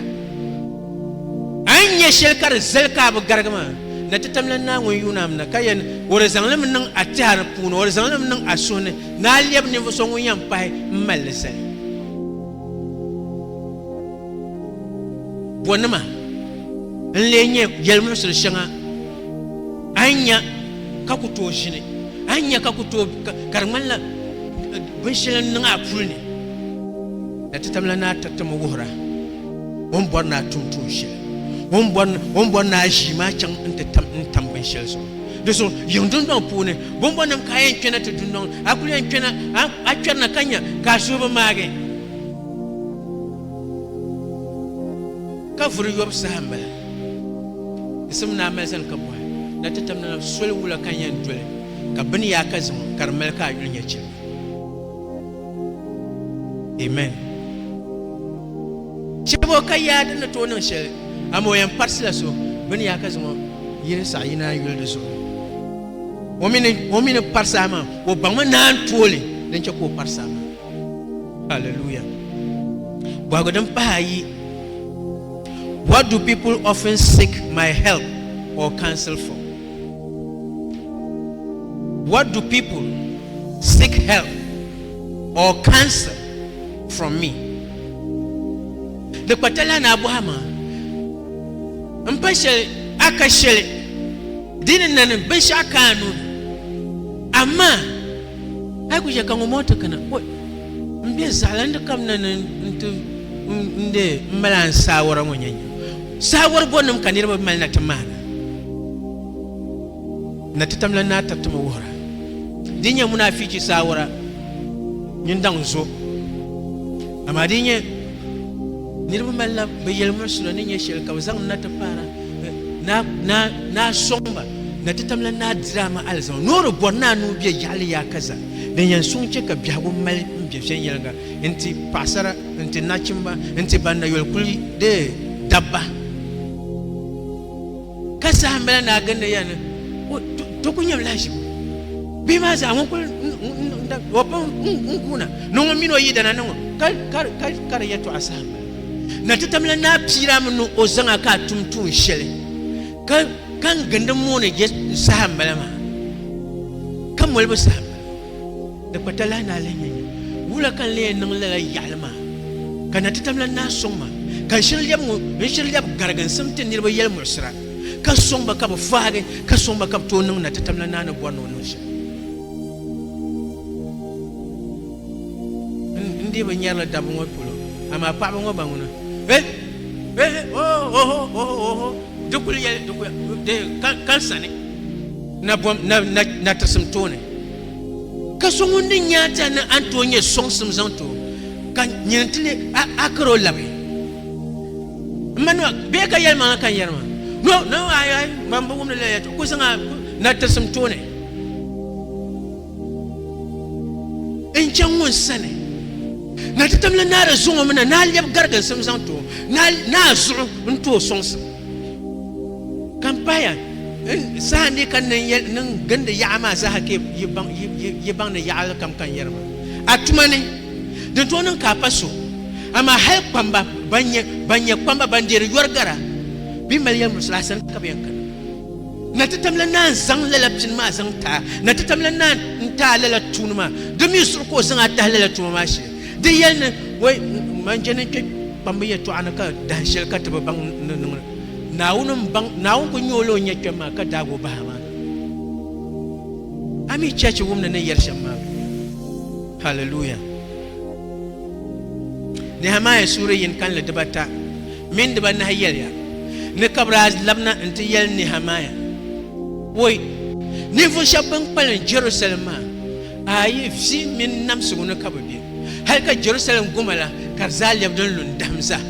A ni nya shɛli ka di zali ka a bi garigi maa, na ti tamla Naawuni yuunam na, ka yɛn o di zaŋ li mi niŋ a tɛha ni puuni, o di zaŋ li mi niŋ a suhu ni, ni a lɛbi ninvuɣ so ŋun yɛn pahi m-mali li zali. Bɔnima n-lee nyɛ yɛlimuɣisiri shɛŋa a ni nya ka ku tooi ʒini, a ni nya ka ku tooi ka di ŋmanila binshɛli n-niŋ a puli ni? Na ti tamla naa tatim wuhir a o ni bɔri ni a tum tuun shɛli, o ni bɔri o ni bɔri ni a ʒii maa chaŋ nti tam n-tam binshɛli zuɣu. Di suŋ yiŋ dundɔŋ puuni, bɔmbɔnnim ka a yɛn kpɛna ti dundɔŋ ni, a kul yɛn kpɛna, a a kpɛrina ka nya ka a suhu bi maagi. Ka vuri yɔbu saha m-bala. Yisim ni a mali zani ka bɔhi na ti tamla na soli wula ka n yɛn doli ka bini yaa ka ziŋ ka di mali ka a yuli nyɛ chɛligu. Amen. Chɛbo ka yaa din ni tooi niŋ shɛli, amaa o yɛn parisila so bɛ ni yaa ka zaŋ o yili saɣa yini a yuli di zuɣu. O mi ni o mi ni parisi a maa, o baŋmi naan tooli din chɛ ka o parisi a maa. Hallelujah. Bɔhigu din pahi ayi, What do people often seek my help or counsel for? What do people seek help or counsel from me? Di kpatala ni a bɔhi ma m pa shɛli a ka shɛli di ni na ni binshɛɣu ka a nuu ni. Amaa a yi ku chɛ ka ŋun bɔŋɔ ti kana, o m be zaɣilandi kam na ni n-ti n-deei m mali a n saawara ŋɔ nyanya. Saawari gonim ka niriba mali na ti maana na ti tamla naa tab tuma wuhira. Di nyɛ munaafichi saawara mini daŋ zo. Amaa di nyɛ niriba mali na bɛ yɛlimuɣisira ni nyɛ shɛli ka bɛ zaŋ na ti paara naa sɔŋba na ti tamla naa diraama alizama noori bɔri naa ni o bɛ yaɣili yaakaza din yɛn suŋ chɛ ka biɛhigu mali m-be viɛnyɛliŋga Nti paɣasara nti nachimba nti ban na yoli kuli deei dabba ka saha mila naa gindi ya ni to ku nyɛm lahiʒibu bihi maa zaa ŋun kuli o pam n guuna ni ŋun mini o yidana ni ŋɔ ka di yɛtɔɣa saha mila na ti tamila naa piira mi ni o zaŋa ka a tum tuun shɛli ka n gindi mooni je saha mila maa ka molibu saha Di kpa talahi ni a lihi nyɛ nyini wula ka n lee niŋ lala yaɣili maa, ka na ti tam la naa sɔŋ ma, ka n shiri lɛbi ŋɔ n shiri lɛbi garigi n simti niriba yɛlimuɣisira, ka sɔŋ ba ka bɛ fahigi, ka sɔŋ ba ka bɛ tooi niŋ na ti tam la naa ni bɔri ni o niŋ shɛm. N dii bi nyari li dabba ŋɔ polo, amaa paɣaba ŋɔ ba ŋuna, eh, eh, oh, oho, oho, oho. Di kuli yɛli di kuli di kalsani na bom na na na tisim tooni ka so ŋun di nyaa ti ni an tooi nyɛ soŋsim zaŋ too ka nyini ti ni a a karo labi n ma nima bee ka yɛli maŋa ka n yɛri ma no no ayi ayi man bi wumdi la yɛtɔ ku zaŋ a na tisim tooni n chaŋ ŋun sani na ti tamla naa di zuŋɔ mi na naa lɛbi gariginsim zaŋ ti o naa zuɣu n ti o sɔŋsim ka m paya saha ni ka niŋ gindi yaɣa maa zaaha ka yi baŋ ni yaɣali kam ka n yɛri ma a tuma ni din tooi niŋ ka a pa so amaa hali kpamba ban nyɛ kpamba ban deeri yɔri gara bee mali yɛlimurisili a sani ka bi yɛn kana Na ti tamla naa n-zaŋ lala pini maa zaŋ ti a. Na ti tamla naa n-ti a lala tuuni maa. Di mi zuɣu ka o zaŋ a tahi lala tuma maa shee. Di yɛli ni, Wai, man je ni n-kpe kpambu yɛtɔɣa ni ka dahin shɛli ka ti bi baŋ ni di niŋ li. Naawuni m-baŋ, Naawuni kul nya o la o ni yɛn kpɛm maa ka daag o bahi a maa ni. A mi chɛchi wum ni ni yɛri shɛm maa bee? Haliluya! Nehimiah suhuri yini kanli dibata mini dibanahi yɛliya ni ka bɛ daa labina nti yɛli Nɛhɛmaya, Woi, ninvuɣ shɛb bɛn kpalim Jɛrusalɛm maa, a yi vi mini namsigu ni ka bɛ be, hal ka Jɛrusalɛm goma la ka di zaa lɛbi din lu n-dahim zaa.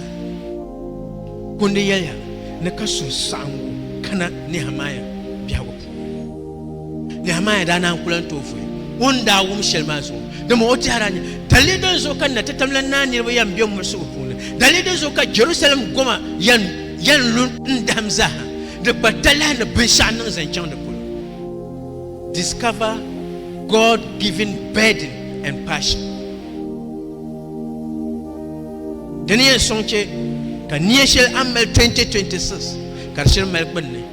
Kundi yɛliya ni ka suhusaɣiŋgu kana Nɛhɛmaya biɛhigu puuni. Nehemaya daa naan kula n-tooi fui o ni daa wum shɛli maa zuɣu. Dama o tɛha daa nya dalili din zuɣu ka natitam la naa niriba yan be mulisigu puuni, dalili din zuɣu ka Jɛrusalɛm goma yan lu n-dahim zaaha, di gba talahi ni binshɛɣu niŋ zaŋ chaŋ di polo. Discover God-given burden and passion. Di ni yɛn sɔŋ chɛ ka nia shɛli a ni mali 2026 ka di shiri mali gbunni.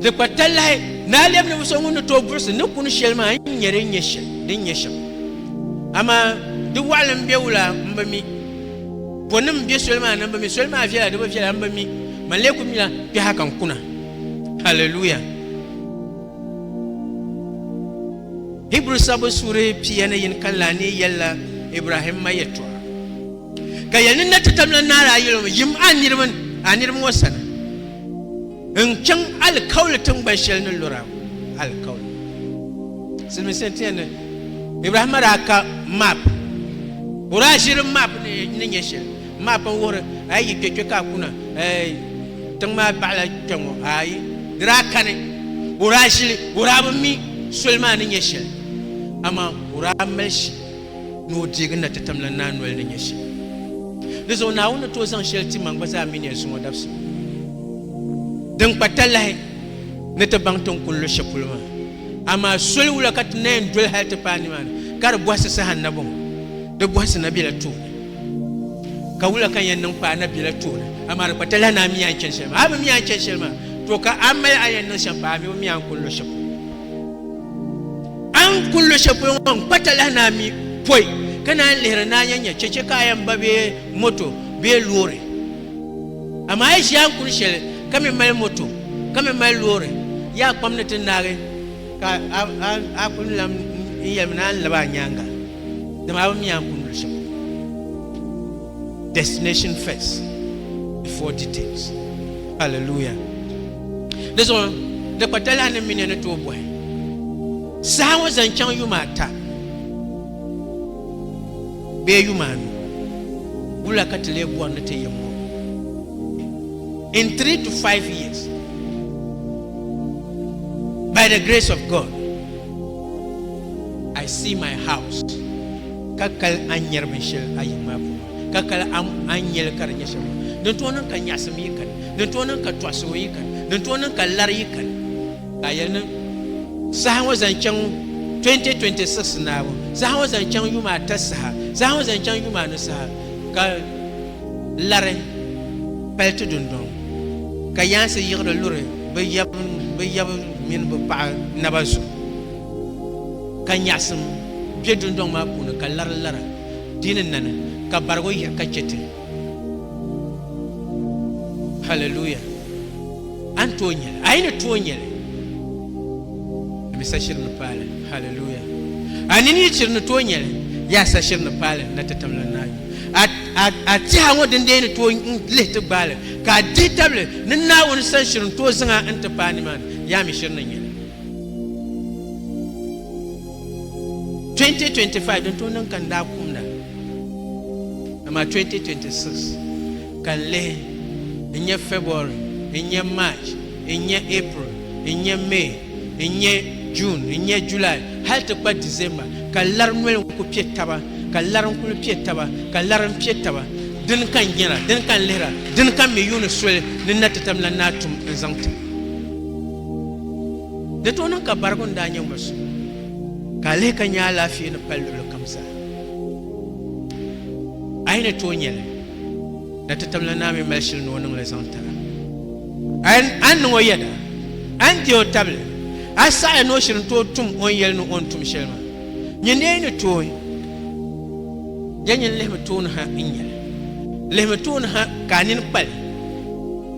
Di kpa talahi ni a lɛbi ninvuɣ so ŋun ni tooi buɣisi ni kuni shɛli maa n-nyɛ din nyɛ shɛm, din nyɛ shɛm. Amaa di wɔɣili m-be wula m bi mi, bɔnim m-be soli maa ni m bi mi, soli maa viɛla di bi viɛla m bi mi, man lee kul mila kpɛha ka n kuna. Haleluya! Hibru sabbu suuri pia ni yin kanli a ni yɛlila Ibrahimma yɛtɔɣa. Ka yɛli ni na ti tamla naara a yili ŋɔ, yim a niriba ni, a niriba ŋɔ sani, n-chaŋ alikauli tiŋgban shɛli ni lura alikauli. Silimiinsi n-ti yɛn ni Ibrahima daa ka map, o daa ʒiri map ni nyɛ shɛli, map n-wuhiri a yi yi kpe kpe ka a kuna, tiŋ maa baɣila kpe ŋɔ ayi, di daa kani, o daa ʒili, o daa bi mi soli maa ni nyɛ shɛli, amaa o daa mali shili. ni o deegi na ti tam la naa noli ni nyɛ shɛm. Di zuɣu Naawuni ni tooi zaŋ shɛli ti ma n-gba zaa mi ni ya zuŋɔ dabisili din kpa talahi ni ti baŋ ti ni kul lu shɛli polo maa. Amaa soli wula ka ti na yɛn doli hal ti paai nimaani ka di bɔhisi saha n-na bɔŋɔ? Di bɔhisi na bela tooni. Ka wula ka n yɛn niŋ paai na bela tooni, amaa di kpa talahi ni a mi a ni chani shɛli maa. A bi mi a ni chani shɛli maa, tɔ ka a mali a ni yɛn niŋ shɛm paai, a mi o mi a ni kul lu shɛli polo. A ni kuli lo shɛli polo ŋɔ n-kpa talahi naa mi pɔi ka naan lihiri ni a nya nya chɛchɛ ka a yɛn ba bee moto bee loori. Amaa yi ʒi a ni kuli shɛli ka mi mali moto ka mi mali loori, yaa kpam ni ti naagi ka a kuli lan n yɛlimi ni a ni lab a nyaaŋa, dama a bi mi a ni kuli lo shɛli polo. Destination first before details. Hallelujah. Di zuɣu di kpa talahi ni mini ni tooi bɔhi saha ŋɔ zaŋ chaŋ yuma ata bee yuma anu wula ka ti lee bɔri ni ti yim ŋɔ in three to five years by the grace of God I see my house ka kali a ni nyɛri binshɛli a yiŋ maa puuni, ka kali a a ni nyɛli ka di nyɛ shɛm maa, din tooi niŋ ka nyaɣisim yi kani, din tooi niŋ ka tɔɣisimo yi kani, din tooi niŋ ka lari yi kani. Ka a yɛli ni, Saha ŋɔ zaŋ chaŋ 2026 naabu, saha ŋɔ zaŋ chaŋ yuma ata saha, saha ŋɔ zaŋ chaŋ yuma anu saha, ka lari pali ti dundɔŋ, ka yaansi yiɣiri luri bɛ yab mini bɛ paɣa naba zuɣu, ka nyaɣisim kpe dundɔŋ maa puuni ka lari lara di ni nani ka barigi o yiɣi ka che ti. Hallelujah! A ni tooi nyɛli? A yi ni tooi nyɛli, mi sa shiri ni paali. Hallelujah! A nini yi chiri ni tooi nyɛli, yaa sa shiri ni paali na ti tamla Naawuni. A tɛha ŋɔ din dee ni tooi lihi ti gbaali ka a dihi tabili ni Naawuni sani shiri n-tooi zaŋ a n-ti paai nimaani, yaa mi shiri ni nyɛli. 2025 din tooi niŋ ka n daa kumda amaa 2026 ka n lihi n nya February n nya March n nya April n nya May n nya June n nya July hali ti kpa December ka lari noli n ku piɛ taba ka lari n kuli piɛ taba ka lari n piɛ taba dini ka n nyara dini ka n lihira dini ka m mi yuuni soli ni na ti tam la ni a tum n zaŋ ti Di tooi niŋ ka barigu ni daa nyɛ ŋɔ zuɣu ka a lihi ka nya alaafee ni pali luɣuli kam zaa. A yi ni tooi nya li, na ti tabila naa mi mali shili ni o niŋ li zaŋ tira. A ni niŋ o yɛda, a ni deei o tabili, a saɣiya ni o shiri ni tooi tum o ni yɛli ni o ni tum shɛli maa. Nyin ni a yi ni tooi nya nyin lihimi tooni ha n-nya li. Lihimi tooni ha ka a nini kpa li.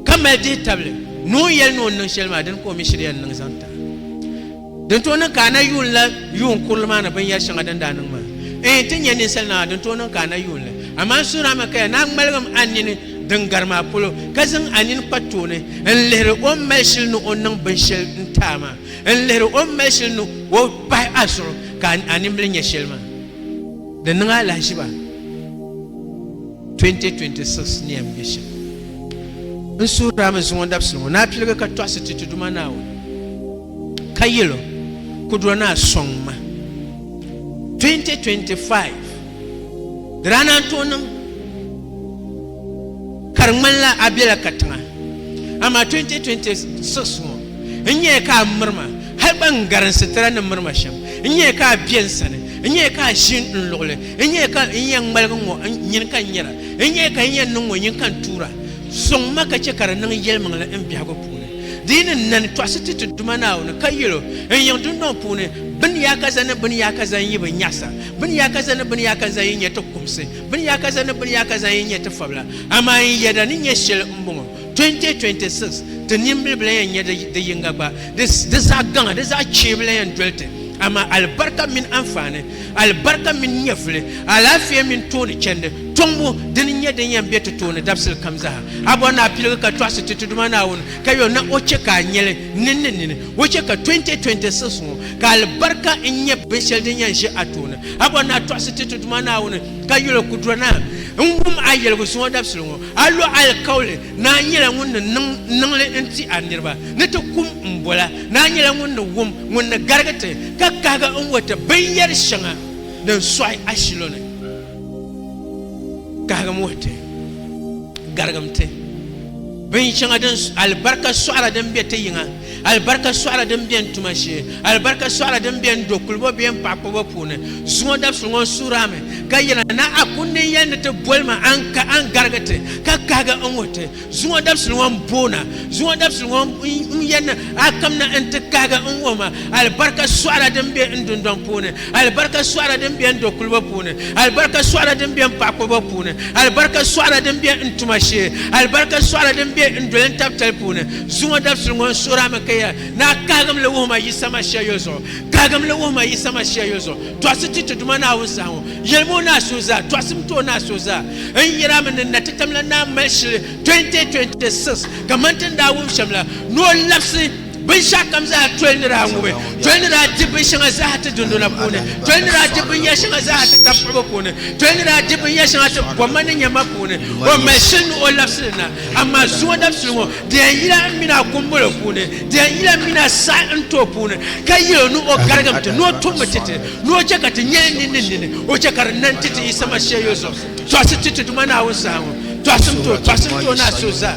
ka mali dihi tabili ni o ni yɛli ni o ni niŋ shɛli maa dini ka o mi shiriya n-niŋ zaŋ tiri a. Din tooi niŋ ka a na yuun la yuun kurili maa ni binyɛr shɛŋa din daa niŋ maa? Ɛɛn, ti nya ninsal naa, din tooi niŋ ka a na yuun li. Amaa n suhir a mi ka ya naa ŋmaligim a nini din gari maa polo, ka zaŋ a nini kpa tooni n-lihiri o ni mali shili ni o niŋ binshɛl n-ti a maa, n-lihiri o ni mali shili ni o pahi a zuɣu ka a nimbili nya shɛli maa. Di niŋ a lahiʒiba. 2026 ni yɛn be shɛm n suhiri a mi zuŋɔ dabisili ŋɔ ni a piligi ka tɔɣisi ti ti Duuma Naawuni ka yɛl o, Kudura Naa sɔŋ ma. 2025 di daa naan tooi niŋ ka di ŋmanila a bela katiŋa amaa 2026 ŋɔ n nyɛya ka a miri ma hali gba n gari n sitira ni miri ma shɛm n nyɛya ka a be n sani n nyɛya ka a ʒi n luɣili N nyɛya ka n yɛn ŋmaligi ŋɔ nyin ka n nyɛra, n nyɛya ka n yɛn niŋ ŋɔ nyin ka n tuura. Sɔŋ ma ka chɛ ka di niŋ yɛlimaŋli n biɛhigu puuni. Di yi ni nani tɔɣisi ti ti Duuma Naawuni, ka yɛl o, N yiŋ dundɔŋ puuni, bini yaakaza ni bini yaakaza n-yi bi nyaɣisa, bini yaakaza ni bini yaakaza yi nyɛ ti kumsi, bini yaakaza ni bini yaakaza yi nyɛ ti fabila, amaa n yɛda ni nyɛ shɛli m-bɔŋɔ, 2026 ti nimbili bi lan yɛn nya di yiŋga gba, di zaɣ gaŋa, di zaɣ chee bi lan yɛn doli ti. Amaa alibarika mini anfaani, alibarika mini nyɛvuli, alaafee mini tooni chɛndi, tɔŋbu, dini n-nyɛ din yɛn be ti tooni dabisili kam zaa. A bɔri ni a piligi ka tɔɣisi ti ti Duuma Naawuni, ka yo na o chɛ ka a nya li nini ni nini. O chɛ ka 2026 ŋɔ, ka alibarika n-nyɛ binshɛli din yɛn ʒe a tooni. A bɔri ni a tɔɣisi ti ti Duuma Naawuni, ka yoli o kudura naa n-wum a yɛligu zuŋɔ dabisili ŋɔ. A lo alikauli, Naa nyɛla ŋun ni niŋ niŋli n-ti a niriba, ni ti kum m bola. Naa nyɛla ŋun ni wum, ŋun ni garigi ti, ka kahigi n wuhi ti binyɛr shɛŋa din sɔɣi a shilo ni. Kahigim wuhi ti, garigim ti, binshɛŋa din alibarika sɔɣira din be ti yiŋa. Alibarika sɔɣila din bɛ n tuma shee, alibarika sɔɣila din bɛ n do kulibo bee n paɣa kpuɣibo puuni. Zuŋɔ dabisili ŋɔ n suhiri a mi, ka yɛli a, Naa a kundi n yɛli ni ti boli ma, a ni ka a ni garigi ti, ka kahigi n wuhi ti. Zuŋɔ dabisili ŋɔ n boon a, zuŋɔ dabisili ŋɔ n yɛn ni a kamina n ti kahigi n wuhi ma, alibarika sɔɣila din bɛ n dundɔŋ puuni, alibarika sɔɣila din bɛ n do kulibo puuni, alibarika sɔɣila din bɛ n paɣa kpuɣibo puuni, alibarika sɔɣila din bɛ n tuma shee, alibarika sɔɣila din bɛ n doli n tabitali puuni. Zuŋɔ dabisili ŋɔ n-suhirami ka yɛra, Naa, kahigim li wuhi ma Yisa Masia yo zuɣu. Kahigim li wuhi ma Yisa Masia yo zuɣu. Tɔɣisi ti ti Duuma Naawuni saha ŋɔ. Yɛlim o naa suhu zaa. Tɔɣisim ti o naa suhu zaa. N yɛrami ni natitam la naa mali shili 2026 kaman ti ni daa wum shɛm la, ni o labisi binshɛɣukam zaa toli ni daa ŋubi, toli ni daa di binshɛŋa zaa ti dundɔna puuni, toli ni daa di binyɛr shɛŋa zaa ti tab puhibu puuni, toli ni daa di binyɛr shɛŋa ti bɔmma ni nyamma puuni. O mali shili ni o labisi li na. Amaa zuŋɔ dabisili ŋɔ di yɛn yila m mini a kumbolo puuni, di yɛn yila m mini a saha n too puuni, ka yɛl o ni o garigim ti, ni o tummi ti ti, ni o chɛ ka ti nya nini ni nini, o chɛ ka di niŋ ti ti Yisa Masia yoli zuɣu. Tɔɣisi ti ti Duuma Naawuni saha ŋɔ. Tɔɣisi n tooi, tɔɣisi n tooi ni a so zaa.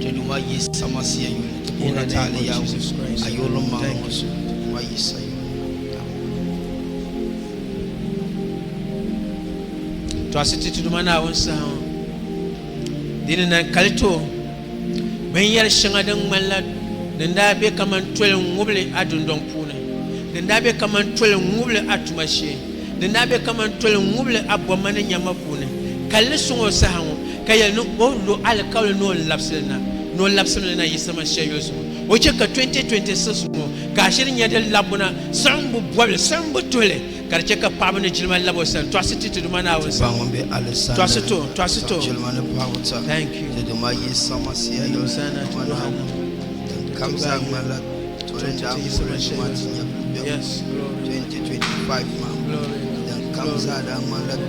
Ti Duuma Yisa Masia yuli, ti puhi na ti a ni Yawɛ, a yurilim maa ŋɔ zuɣu, Duuma Yisa yuli. Tɔɣisi ti Tiduma Naawuni saha ŋɔ. Di ni nan kali ti o, bin yɛri shɛŋa din ŋmanila din daa be kaman toli ŋubili a dundɔŋ puuni, din daa be kaman toli ŋubili a tuma shee, din daa be kaman toli ŋubili a bomma ni nyamma puuni, ka li suŋ o saha ŋɔ. Ka yɛli ni o lo alikauli ni o ni labisi li na ni o labisimi li na yiɣisirima shɛli yuli zuɣu. O chɛ ka 2026 ŋɔ ka ashiri nyɛ din labbu na siɣimbu bɔbili, siɣimbu tuhili ka di chɛ ka paɣiba ni jilima labi o sani tɔɣisi ti ti Duuma Naawuni sani. Tɔɣisi ti o, tɔɣisi ti o. Thank you. Hosanna to Duuma Naawuni. Ti gba yi ti yiɣisirima shɛli yuli zuɣu. Yes, glory. Glory,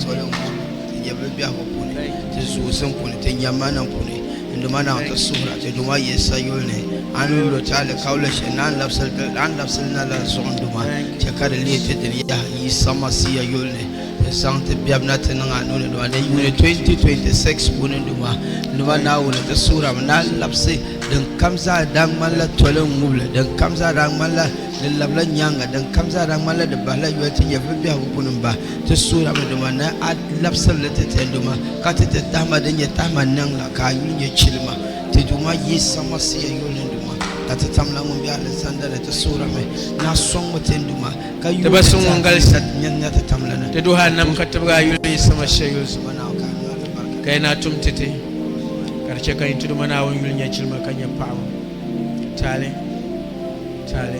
glory. Ti nyɛbu li biɛhigu puuni, ti zuɣusim puuni, ti nyammanim puuni, n duma Naa n-ti suhira ti duma yi sa yuli ni a ni yuli o ti alikauli shɛli ni a ni labisiri na la zuɣu n duma chɛ ka di leei ti dini yaha Yisa Masia yuli ni ti zaŋ ti biɛbu na ti niŋ a nuu ni n duma di yuuni 2026 puuni n duma n duma Naawuni n-ti suhira mi ni a labisi din kam zaa daa ŋmani la toli n ŋubili din kam zaa daa ŋmani la di labila nyaaŋa din kam zaa daa ŋmani la di bahila yoli ti nyɛvili biɛhigu puuni m ba Ti suurami duma ni a labisiri li ti tɛnduma, ka ti ti tahima din nyɛ tahima niŋ la, ka a yuli nyɛ chilima. Ti Duuma Yisa Masia yuli ni duma, ka ti tamla ŋun be alizanda ni. Ti suurami ni a sɔŋmi tɛnduma, ka yuli ni zahim din nyɛ nya ti tamli ni. Ti duhi a nam ka tibigi a yuli Yisa Masia yuli zuɣu, ka yi naa tum ti ti, ka di chɛ ka yi Ti Duuma Naawuni yuli nyɛ chilima ka nyɛ paɣibu taali taali.